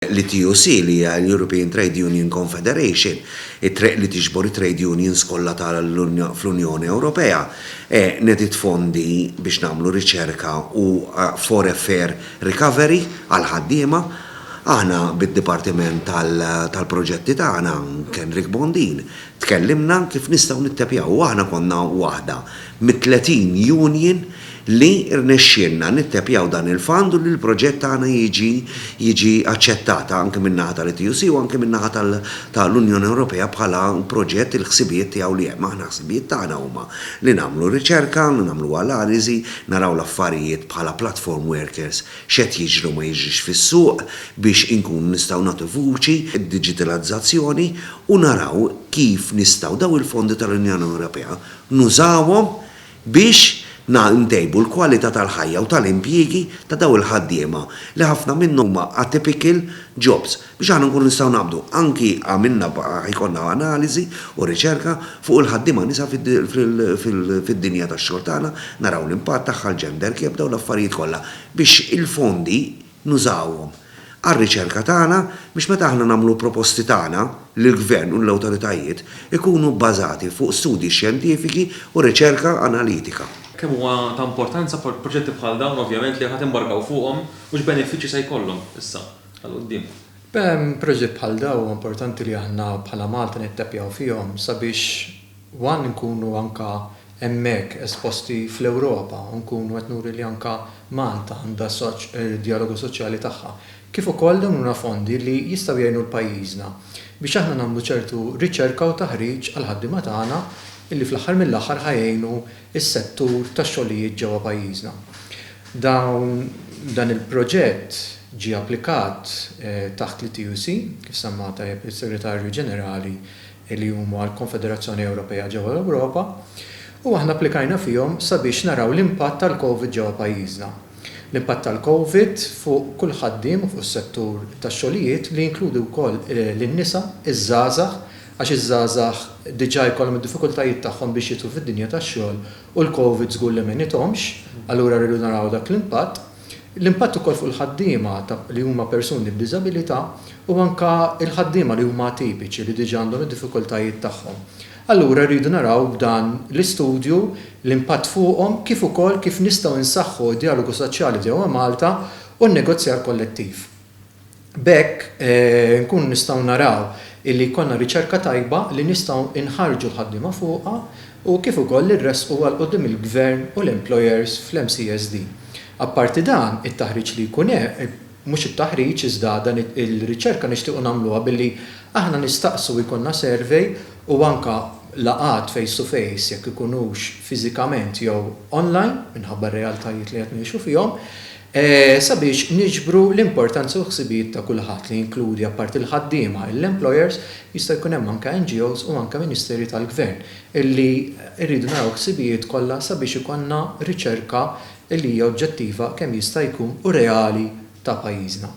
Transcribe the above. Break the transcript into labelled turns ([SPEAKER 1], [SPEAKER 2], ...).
[SPEAKER 1] L-ETUC, li hija l-European Trade Union Confederation, it-triq li tiġbor it-trade unions kollha ta' fl-Unjoni Ewropea, nediet fondi biex nagħmlu riċerka u for a fair recovery għall-ħaddiema. Aħna bid-dipartiment tal-proġetti tagħna, Kendrick Bondin, tkellimna kif nistgħu nittepjaw u aħna konna waħda mit-30 union li rnexxielna nittepjaw dan il-fund u li l-proġett tagħna jiġi jiġi aċċettat anke min-naħa tal-ETUC u anke min-naħa tal tal-Unjoni Ewropea bħala proġett il-ħsibijiet tiegħu li hemm. Aħna ħsibijiet tagħna huma li nagħmlu riċerka, nagħmlu analiżi, naraw l-affarijiet bħala platform workers x'qed jiġri u ma jiġrix fis-suq biex inkunu nistgħu nagħtu vuċi d-diġitalizzazzjoni u naraw kif nistgħu dawn il-fondi tal-Unjoni Ewropea nużawhom biex ntejbu l-kwalità tal-ħajja u tal-impjiegi ta' dawn il-ħaddiema li ħafna minnhom huma atypical jobs. Biex aħna nkunu nistgħu naqbdu, anki għamilna ikollna analiżi u riċerka fuq il-ħaddiema nisa fid-dinja tax-xogħol tagħna, naraw l-impatt tagħha, l-gender gap, dawn l-affarijiet kollha biex il-fondi, nużawhom għar-riċerka tagħna biex meta aħna nagħmlu l-proposti tagħna lill-Gvern u lill-awtoritajiet ikunu bbażati fuq studji xjentifiki u riċerka analitika. Kemm huwa ta'
[SPEAKER 2] importanza proġetti bħal dawn ovvjament li ħa timbarkaw fuqhom u x'benefiċċji se jkollhom issa għal quddiem? Proġetti
[SPEAKER 3] bħal dawn huwa importanti li aħna bħala Malta nittappjaw fihom sabiex One li nkunu anke hemmhekk esposti fl-Ewropa u nkunu qed nuri li anke Malta għandha d-djalogu soċjali tagħha. Kif ukoll dawn huma fondi li jistgħu jgħinu l-pajjiżna biex aħna nagħmlu ċertu riċerka u taħriġ għall-ħaddiema tagħna li fl-aħħar mill-aħħar ħa jgħinu s-settur tax-xogħlijiet ġewwa pajjiżna. Dawn dan il-proġett ġie applikat taħt l-ETUC, kif semma tajjeb is-Segretarju Ġenerali li huma l-Konfederazzjoni Ewropea ġewwa l-Ewropa, u aħna applikajna fihom sabiex naraw l-impatt tal-Covid ġewwa pajjiżna. L-impatt tal-Covid fuq kull ħaddiem u fuq is-settur tax-xogħlijiet li jinkludi wkoll lin-nisa, iż-żgħażagħ, għax iż-żgħażagħ diġà jkollhom id-diffikultajiet tagħhom biex jidħlu fid-dinja tax-xogħol u l-Covid żgur li m'għenithomx, allura rridu naraw dak l-impatt. L-impatt ukoll fuq il-ħaddiema li huma persuni b'diżabilità u anke l-ħaddiema li huma atipiċi li diġà għandhom id-diffikultajiet tagħhom. Allura rridu naraw b'dan l-istudju l-impatt fuqhom kif ukoll kif nistgħu nsaħħu d-djalogu soċjali ġewwa Malta u n-negozjar kollettiv. B'hekk nkunu nistgħu naraw illi jkollna riċerka tajba li nistgħu nħarrġu l-ħaddiema fuqha u kif ukoll li nressqu għal quddiem il-gvern u l-employers fl-MCSD. Apparti dan, it-taħriġ li jkun hemm, mhux it-taħriġ iżda dan ir-riċerka nixtiequ nagħmluha billi aħna nistaqsu jkollna survey u anke laqgħat face to face jekk ikunux fiżikament jew online minħabba r-realtajiet li qed ngħixu fihom, Sabiex niġbru l-importanza u l-ħsibijiet ta' kulħadd, li jinkludi apparti l-ħaddiema, l-employers, jista' jkun hemm anke NGOs u anke ministeri tal-gvern, illi rridu naraw il-ħsibijiet kollha sabiex ikollna riċerka li hija oġġettiva kemm jista' jkun u reali ta' pajjiżna.